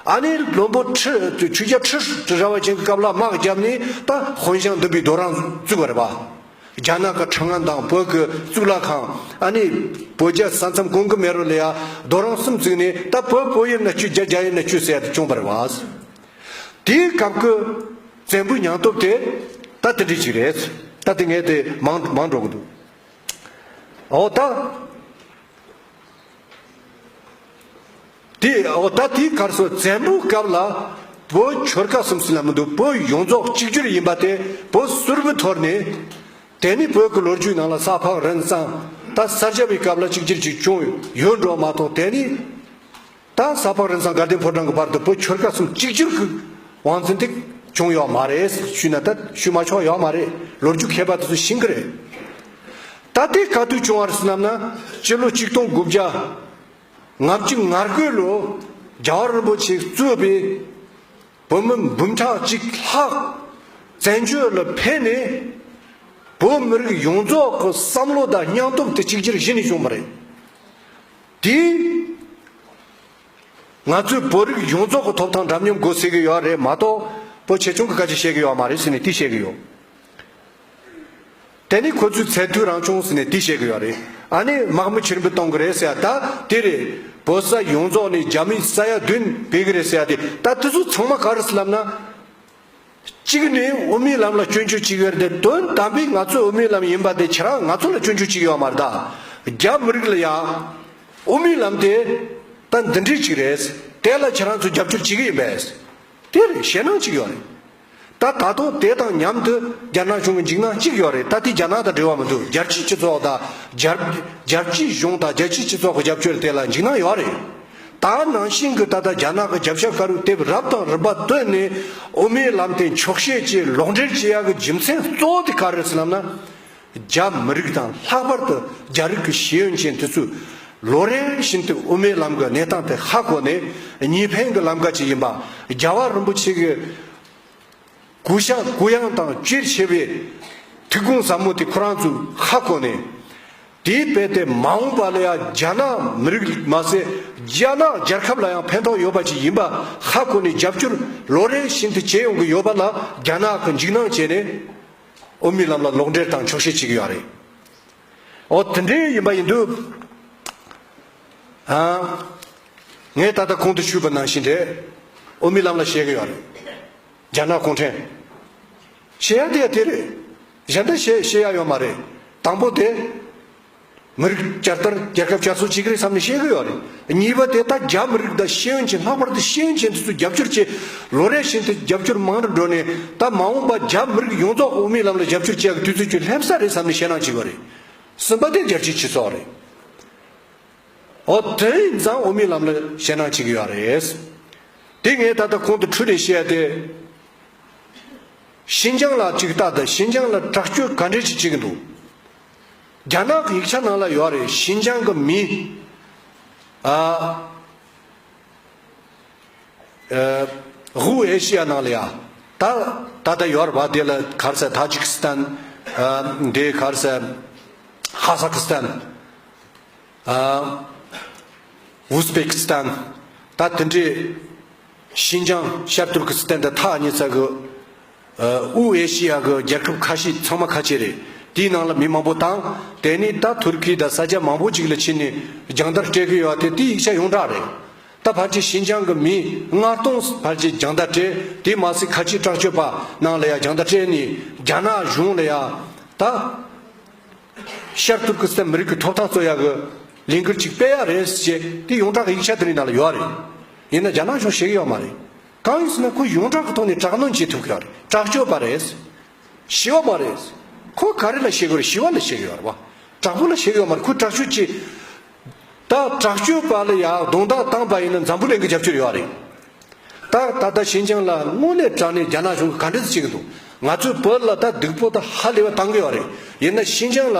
ཨ་ནེ་རི་ལྷོན་པོ་ཁྲི་དུ་ཆུ་བརྒྱ་ཁྲི་ཁྲི་ར་བ་ཅན་གྱི་སྐབས་ལ་དམག་བརྒྱབ་ནས་ད་ཧོན་ཞང་བདུན་པའི་རྡོ་རང་བཙུགས་པ་རེད་པ། རྒྱ་ནག་གི་ཁྲང་ཨན་དང་བོད་ཀྱི་གཙུག་ལག་ཁང་ཨ་ནེ་བོད་རྒྱ་ས་མཚམས་གོང་གི་མེ་རོ་ལ་ཡང་རྡོ་རང་གསུམ་བཙུགས་ནས་ད་བོད་བོད་དབྱིབས་ན་བཅུ་རྒྱ་རྒྱ་དབྱིབས་ན་བཅུ་ཟེར་ཡ་དེ་བྱུང་བ་རེད་པ། དེའི་སྐབས་ཀྱི་བཙན་པོའི་མྱང་སྟོབས་དེ་ད་དེ་འདྲས་ཅིག་རེད། ད་དེ་ངས་དེ་མང་མང་སྒྲོག་གི་འདུག་ཨོ་ད། དེ་འོག་ད་ལྟའི་གར་སོང་བཙན་པོའི་སྐབས་ལ་བོད་ཆོལ་ཁ་གསུམ་སུ་ལ་མི་འདུག་བོད་ཡོངས་རྫོགས་གཅིག་གྱུར་ཡིན་པ་དེ་བོད་སུར་བུ་འཐོར་ནས། དེ་ནས་བོད་ཀྱི་ལོ་རྒྱུས་ནང་ལ་ས་ཕག་རིན་བཟང་ད་ས་སྐྱ་པའི་སྐབས་ལ་གཅིག་གྱུར་གྱི་ཅུང་ཡོད་འགྲོ་མ་གཏོགས་དེ་ནས་ད་ས་ཕག་རིན་བཟང་དགའ་ལྡན་ཕོ་བྲང་གི་བར་དུ་བོད་ཆོལ་ཁ་གསུམ་གཅིག་གྱུར་གྱི་བང་རྩིན་དེ་བྱུང་ཡོད་མ་རེད་ཞུས་ན་ད་ཞུས་མ་ཆོག་ཡོད་མ་རེད་ལོ་རྒྱུས་མཁས་པ་དེ་ཚོས་ཤེས་གི་རེད། ད་ལྟའི་ག་དུས་བྱུང་བ་རེད་བསམ་ན་སྤྱི་ལོ་གཅིག་སྟོང་དགུ་བརྒྱ་ལྔ་བཅུ་ལྔར་སྐུལ་ལོ། རྒྱལ་བ་རིན་པོ་ཆེས་གཙོས་པའི་བོད་མི་འབུམ་ཕྲག་གཅིག་ལྷག་བཙན་བྱོལ་ལ་ཕེབས་ནས། བོད་མི་རིགས་ཡོངས་རྫོགས་ཀྱི་བསམ་བློ་དང་སྙིང་སྟོབས་དེ་གཅིག་གྱུར་གཞི་ནས་བྱུང་བ་རེད། དེས་ང་ཚོའི་བོད་རིགས་ཡོངས་རྫོགས་ཀྱི་ཐོབ་ཐང་འདྲ་མཉམ་དགོས་ཟེར་གྱི་ཡོད་རེད་མ་གཏོགས་བོད་ཆེ་ཆུང་གི་སྐད་ཆ་བཤད་ཀྱི་ཡོད་མ་རེད་ཟེར་ནས་དེ་བཤད་ཀྱི་ཡོད། དེ་ནི་ཁོ་ཚོའི་ཚད་མཐོའི་རང་བྱུང་ཟེར་ནས་དེ་བཤད་གི་ཡོད་རེད་ཨ་ནི་དམག་མི་ཕྱིར་འབུད་གཏོང་གི་རེད་ཟེར་ཡ་ད་དེ་རེད་བོད་ས་ཡོངས་རྫོགས་ནས་རྒྱ་མི་ས་ཡ་བདུན་བེད་གི་རེད་ཟེར་ཡ་དེ་ད་དེ་ཚོ་ཚང་མ་ག་རེ་སེམས་ལབ་ན། གཅིག་ནི་དབུ་མའི་ལམ་ལ་སྐྱོན་བརྗོད་ཅིག་ཡོད་རེད་དོན་དམ་པའི་ང་ཚོའི་དབུ་མའི་ལམ་ཡིན་པ་དེ་ཁྱེད་རང་ང་ཚོ་ལ་སྐྱོན་བརྗོད་ཅིག་ཡོད་པ་མ་རེད་ད་རྒྱ་མི་རིགས་ལ་ཡང་དབུ་མའི་ལམ་དེ་ད་འདི་འདྲས་ཅིག་རེད་དེ་ལ་ཁྱེད་རང་ཚོ་རྒྱབ་སྐྱོར་བྱེད་གི་ཡིན་པས་དེ་རེད་ཞེད་སྣང་ཅིག་ཡོད་རེད། ད་ད་དུང་དེ་དང་མཉམ་དུ་རྒྱ་ནག་གཞུང་གི་འཇིགས་སྣང་གཅིག་ཡོད་རེད་ད་དེ་རྒྱ་ནག་དང་འབྲེལ་བ་མི་འདུག་རྒྱལ་སྤྱིའི་སྤྱི་ཚོགས་དང། རྒྱལ་སྤྱིའི་གཞུང་དང་རྒྱལ་སྤྱིའི་སྤྱི་ཚོགས་ཀྱི་རྒྱབ་སྐྱོར་དེ་ལ་འཇིགས་སྣང་ཡོད་རེད། ད་ནང་བཞིན་གྱི་ད་ལྟ་རྒྱ་ནག་གི་རྒྱབ་ཤ་ཁ་རུ་དེབ་རབ་དང་རིམ་པ་བཏོན་ནས་དབུ་མའི་ལམ་དེ་འཁྱོག་བཤད་ཀྱིས་ལོག་འགྲེལ་བྱེད་ཡག་གི་རྒྱུ་མཚན་གཙོ་བོ་དེ་ག་རེད་ཟེར་ལབ་ན། རྒྱ་མི་རིགས་དང་ལྷག་པར་དུ་རྒྱ་རིགས་ཀྱི་ཤེས་ཡོན་ཅན་དེ་ཚོས་ལོ་རེ་བཞིན་དུ་དབུ་མའི་ལམ་གྱི་གནས་སྟངས་དེ་ཧ་གོ་ནས་གཉིས་ཕན་གྱི་ལམ་ཀ་ཅིག་ཡིན་པ་རྒྱལ་བ་རིན་པོ་ཆེ་གི་གུ་ཞྭ་གུ་ཡངས་དང་བཅོས་ཆེ་བའི་ཐིག་དགོང་ཟབ་མོ་དེ་ཁོ་རང་ཚོས་ཧ་གོ་ནས། དེའི་དཔེ་དེ་མ་འོངས་པ་ལ་ཡང་རྒྱ་ནག་མི་རིགས་མ་ཟད་རྒྱ་ནག་རྒྱལ་ཁབ་ལ་ཡང་ཕན་ཐོགས་ཡོད་པ་ཅིག་ཡིན་པ་ཧ་གོ་ནས་རྒྱབ་སྐྱོར་ལོ་རེ་བཞིན་དུ་བྱེད་ཡོང་གི་ཡོད་པ་ལ་རྒྱ་ནག་གི་འཇིགས་སྣང་བྱས་ནས། དབུ་མའི་ལམ་ལ་ལོག་འགྲེལ་དང་འཁྱོག་བཤད་བྱེད་ཀྱི་ཡོད་རེད། ཨོ་དེ་འདྲའི་ཡིན་པ་ཡིན་དུས། ངས་ད་ལྟ་ཁོང་དུ་ཆུད་པ་ནང་བཞིན་རེད། དབུ་མའི་ལམ་ལ་བཤད་ཀྱི་ཡོད་རེད། རྒྱ་ནག་གུང་ཁྲན། བཤད་ཡ་དེ་ཡ་དེ་རེད། གཞན་དག་བཤད་བཤད་ཡ་ཡོད་མ་རེད། དང་པོ་དེ། མི་རིགས་བསྐྱར་དར་རྒྱལ་ཁབ་བསྐྱར་གསོ་བྱེད་ཀྱི་རེད་བསམ་ནས་བཤད་གི་ཡོད་རེད། གཉིས་པ་དེ་ད་རྒྱ་མི་རིགས་དང་ཤེས་ཡོན་ཅན་ལྷག་པར་དུ་ཤེས་ཡོན་ཅན་དེ་ཚོ་རྒྱབ་སྐྱོར་བྱས། ལོ་རེ་བཞིན་དུ་རྒྱབ་སྐྱོར་མང་རུ་འགྲོ་ནས་ད་མ་འོངས་པ་རྒྱ་མི་རིགས་ཡོངས་རྫོགས་དབུ་མའི་ལམ་ལ་རྒྱབ་སྐྱོར་བྱེད་ཡག་གི་དུས་ཚོད་ཁྱོད་སླེབས་ས་རེད་བསམ་ནས་ཞེད་སྣང་བྱེད་གི་རེད། གསུམ་པ་དེ་རྒྱལ་སྤྱིའི་སྤྱི་ཚོགས་རེད། ཨོ་དེ་ཡིན་ཙང་དབུ་མའི་ལམ་ལ་ཞེད་སྣང་བྱེད་གི་ཡོད་རེད། དེ་ངས་ད་ལྟ་ཁོང་དུ་འཁྲུལ་ནས་བཤད་དེ། ཤིན་ཅང་ལ་ཅིག་ལྟ་དང་ཤིན་ཅང་ལ་དྲག་སྐྱོད་ག་འདྲས་ཅིག་བྱེད་གི་འདུག་རྒྱ་ནག་གི་ཡིག་ཆ་ནང་ལ་ཡོད་རེད་ཞིན་ཅང་གི་མི་ཧུའུ་ཨེ་ཤི་ཡ་ནང་ལ་ཡ་ད་ད་ལྟ་ཡོད་རེད་བ་དེ་ལ་གར་ས་ཐ་ཇིག་སི་ཐན་དེ་གར་ས་ཧ་ས་ཁི་སི་ཐན་ཝུ་སི་པེ་ཁི་སི་ཐན་ད་དེ་འདྲའི་ཞིན་ཅང་ཤར་ཏུར་ཁི་སི་ཐན་དེ་ཐ་ཉི་ཚ་གི་དབུས་ཨེ་ཤི་ཡ་གི་རྒྱལ་ཁབ་ཁ་ཤས་ཚང་མ་ཁ་ཆེ་རེད། དེའི་ནང་ལ་མི་མང་པོ་དང། དེ་ནས་ད་ཐུར་ཁི་དང་ས་ཆ་མང་པོ་ཅིག་ལ་ཕྱིན་ནས་རྒྱང་བལྟར་སྤྲད་གི་ཡོད་དེ་དེའི་ཡིག་ཆ་ཡོངས་གྲགས་རེད། ད་བར་ཆད་ཤིན་ཅང་གི་མིས་ལྔ་སྟོང་བར་ཆད་རྒྱང་བལྟར་སྤྲད་དེ་མ་ཟད་ཁ་ཆེའི་དྲག་སྤྱོད་པ་ནང་ལ་ཡང་རྒྱང་བལྟར་སྤྲད་ནས་རྒྱ་ནག་གཞུང་ལ་ཡང་ད་ཤར་ཐུར་ཁི་སི་ཐན་མི་རིགས་ཀྱི་ཐོབ་ཐང་རྩོད་ཡག་གི་ལས་འགུལ་ཅིག་སྤེལ་ཡག་རེད་ཟེར་ཅེས་དེ་ཡོངས་གྲགས་ཀྱི་ཡིག་ཆ་དེ་རིང་ནང་ལ་ཡོད་རེད། ཡིན་ན་རྒྱ་ནག་གཞུང་ཤེས་གི་ཡོད་མ་རེད། གང་ཡིན་ཟེར་ན་ཁོ་ཡོངས་གྲགས་ཀྱི་ཐོག་ནས་དྲག་གནོན་བྱེད་ཐུབ་ཀྱི་རེད་དྲག་སྤྱོད་པ་རེད། ཞི་བ་མ་རེད། ཁོ་ག་རེ་ལ་བྱེད་ཀྱི་རེད་ཞི་བ་ལ་བྱེད་ཀྱི་ཡོད་རེད་བ། དྲག་པོ་ལ་བྱེད་ཀྱི་ཡོད་མ་རེད་ཁོ་དྲག་སྤྱོད་བྱེད། ད་དྲག་སྤྱོད་པ་ལ་ཡང་རྡུང་རྡེག་བཏང་པ་ཡིན་ན་འཛམ་བུ་གླིང་གི་རྒྱབ་སྐྱོར་ཡོད་རེད། ད་ད་ལྟ་ཞིན་ཅང་ལ་དངོས་གནས་དྲག་ནས་རྒྱ་ནག་གཞུང་གིས་ག་འདྲ་ཟེར་གྱི་འདུག་ང་ཚོའི་བོད་ལ་ད་སྡིག་པོ་ད་ཧ་ལས་པ་བཏང་གི་ཡོད་རེད་ཡིན་ན་ཞིན་ཅང་ལ།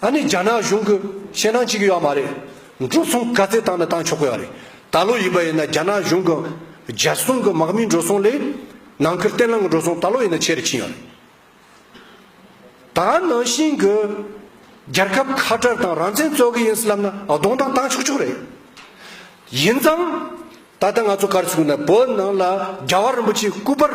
ཨ་ནི་རྒྱ་ནག་གཞུང་གི་ཞེད་སྣང་བྱེད་ཀྱི་ཡོད་མ་རེད། འགྲོ་སོང་དཀའ་ཚེགས་བཏང་ན་བཏང་ཆོག་གི་ཡོད་རེད། ད་ལོ་ཡིན་པ་ཡིན་ན་རྒྱ་ནག་གཞུང་གི་རྒྱལ་སྲུང་གི་དམག་མིའི་འགྲོ་སོང་ལས། ནང་ཁུལ་བརྟན་ལྷིང་གི་འགྲོ་སོང་ད་ལོ་ཡིན་ན་ཆེ་རུ་ཕྱིན་ཡོད་རེད། ད་ནང་བཞིན་གྱི་རྒྱལ་ཁབ་ཁ་བྲལ་དང་རང་བཙན་རྩོད་གི་ཡིན་སྲིད་ལབ་ན་གདོང་བཏང་བཏང་ཆོག་ཆོག་རེད། ཡིན་ཙང། ད་ལྟ་ང་ཚོ་གར་ཚུགས་ནས་བོད་ནང་ལ་རྒྱལ་བ་རིན་པོ་ཆེའི་སྐུ་པར།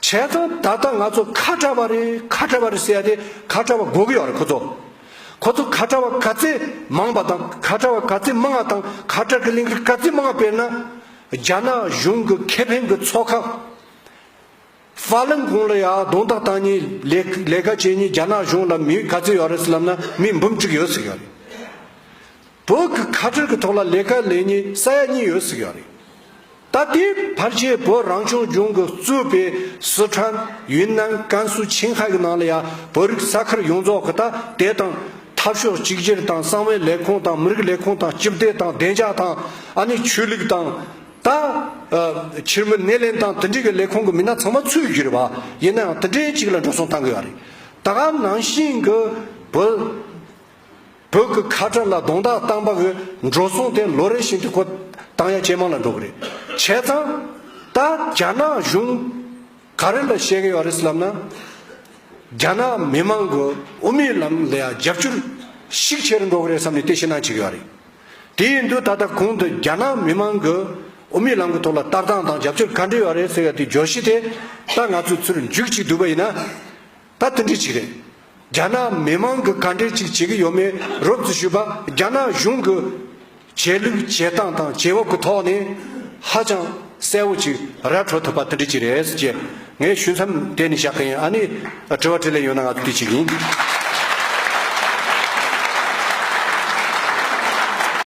བྱས་ཙང་ད་ལྟ་ང་ཚོ་ཁ་བྲལ་བ་རེད་ཁ་བྲལ་བ་རེད་ཟེར་ཡ་དེ་ཁ་བྲལ་བ་འགོག་གི་ཡོད་རེད་ཁོ་ཚོ། ཁོ་ཚོ་ཁ་བྲལ་བ་ག་ཚད་མང་བ་དང་ཁ་བྲལ་བ་ག་ཚད་མང་བ་དང་ཁ་བྲལ་གི་གླེང་གཞི་ག་ཚད་མང་བ་དཔེར་ན། རྒྱ་ནག་གཞུང་གི་ཁེ་ཕན་གྱི་ཚོགས་ཁག་ཧྥ་ལིན་ཀོང་ལ་ཡང་གདོང་ཐག་བཏང་ཉིན་ལས་ལས་ཀ་བྱས་ཉིན་རྒྱ་ནག་གཞུང་ལ་མི་ག་ཚད་ཡོད་རེད་ཟེར་ལབ་ན་མི་འབུམ་གཅིག་ཡོད་ཟེར་གི་ཡོད་རེད། བོད་ཀྱི་ཁ་བྲལ་གྱི་ཐོག་ལ་ལས་ཀ་ལས་ཉེས་ས་ཡ་གཉིས་ཡོད་ཟིག་ཡག་རེད་ད་དེའི་བར་ཆད་བོད་རང་སྐྱོང་ལྗོངས་ཀྱི་གཙོས་པའི་སི་ཁྲོན་ཡུན་ནན་ཀན་སུའུ་ཆིང་ཧྭ་གྱི་ནང་ལ་ཡང་བོད་རིགས་ས་ཁུལ་ཡོངས་རྫོགས་ཀྱི་ད་དེ་དང་འཐབ་ཕྱོགས་གཅིག་གྱུར་དང་གསང་བའི་ལས་ཁུངས་དང་མི་རིགས་ལས་ཁུངས་དང་སྤྱི་བདེ་དང་བདེ་འཇགས་དང་ཨ་ནི་ཆོས་ལུགས་དང་ད་ཕྱིར་མི་སྣེ་ལེན་དང་དེ་འབྲེལ་གྱི་ལས་ཁུངས་ཀྱི་མི་སྣ་ཚང་མ་ཚུད་རྒྱུ་རེད་བ་ཡིན་ནའང་དེ་འདྲའི་གཅིག་ལ་འགྲོ་སོང་གཏང་གི་ཡག་རེད་ད་གམ་ནང་བཞིན་གྱི་བོད། བོད་ཀྱི་ཁ་བྲལ་ལ་རྡུང་རྡེག་བཏང་པ་གི་འགྲོ་སོང་དེ་ལོ་རེ་བཞིན་དུ་ཁོ་དང་ཡང་ཇེ་མང་ལ་འགྲོ་གི་རེད། བྱས་ཙང། ད་རྒྱ་ནག་གཞུང་ག་རེ་ལ་བཤད་གི་ཡོད་རེད་ལབ་ན། རྒྱ་ནག་མི་མང་གི་དབུ་མའི་ལམ་ལ་ཡང་རྒྱབ་སྐྱོར་ཤུགས་ཆེ་རུ་འགྲོ་གི་རེད་བསམ་ནས་དེ་ཕྱི་ནང་བྱེད་གི་ཡོད་རེད། དེ་ཡིན་དུས་ད་ལྟ་གུང་དུ་རྒྱ་ནག་མི་མང་གི་དབུ་མའི་ལམ་གི་ཐོག་ལ་ལྟ་སྟངས་དང་རྒྱབ་སྐྱོར་ག་འདྲ་ཡོད་རེད་ཟེར་ཡོད་དེ་བརྗོད་གཞི་དེ་ད་ང་ཚོས་ཚུར་འཇུག་ཅིག་བསྡུས་པ་ཡིན་ན། ད་དེ་འདྲི་གཅིག་རེད། རྒྱ་ནག་མི་དམངས་ཀྱི་ག་འདྲས་ཅིག་བྱེད་ཀྱི་ཡོད་མེད་རོབ་རྩིས་ཞུས་པ་རྒྱ་ནག་གཞུང་གི་བྱས་ལུགས་བྱས་སྟངས་དང་བྱས་བབ་ཀྱི་ཐོག་ནས་ཧ་ཅང་གསལ་བོ་ཅིག་ར་འཕྲོ་ཐུབ་པ་དེ་འདྲི་གཅིག་རེད་ཅེས་ངས་ཞུ་མཚམས་དེ་ནས་བཞག་གིན་ཨ་ནི་དྲི་བ་དྲི་ལེན་ཡོད་ན་ང་ཚོ་དུས་གཅིག་ཡིན།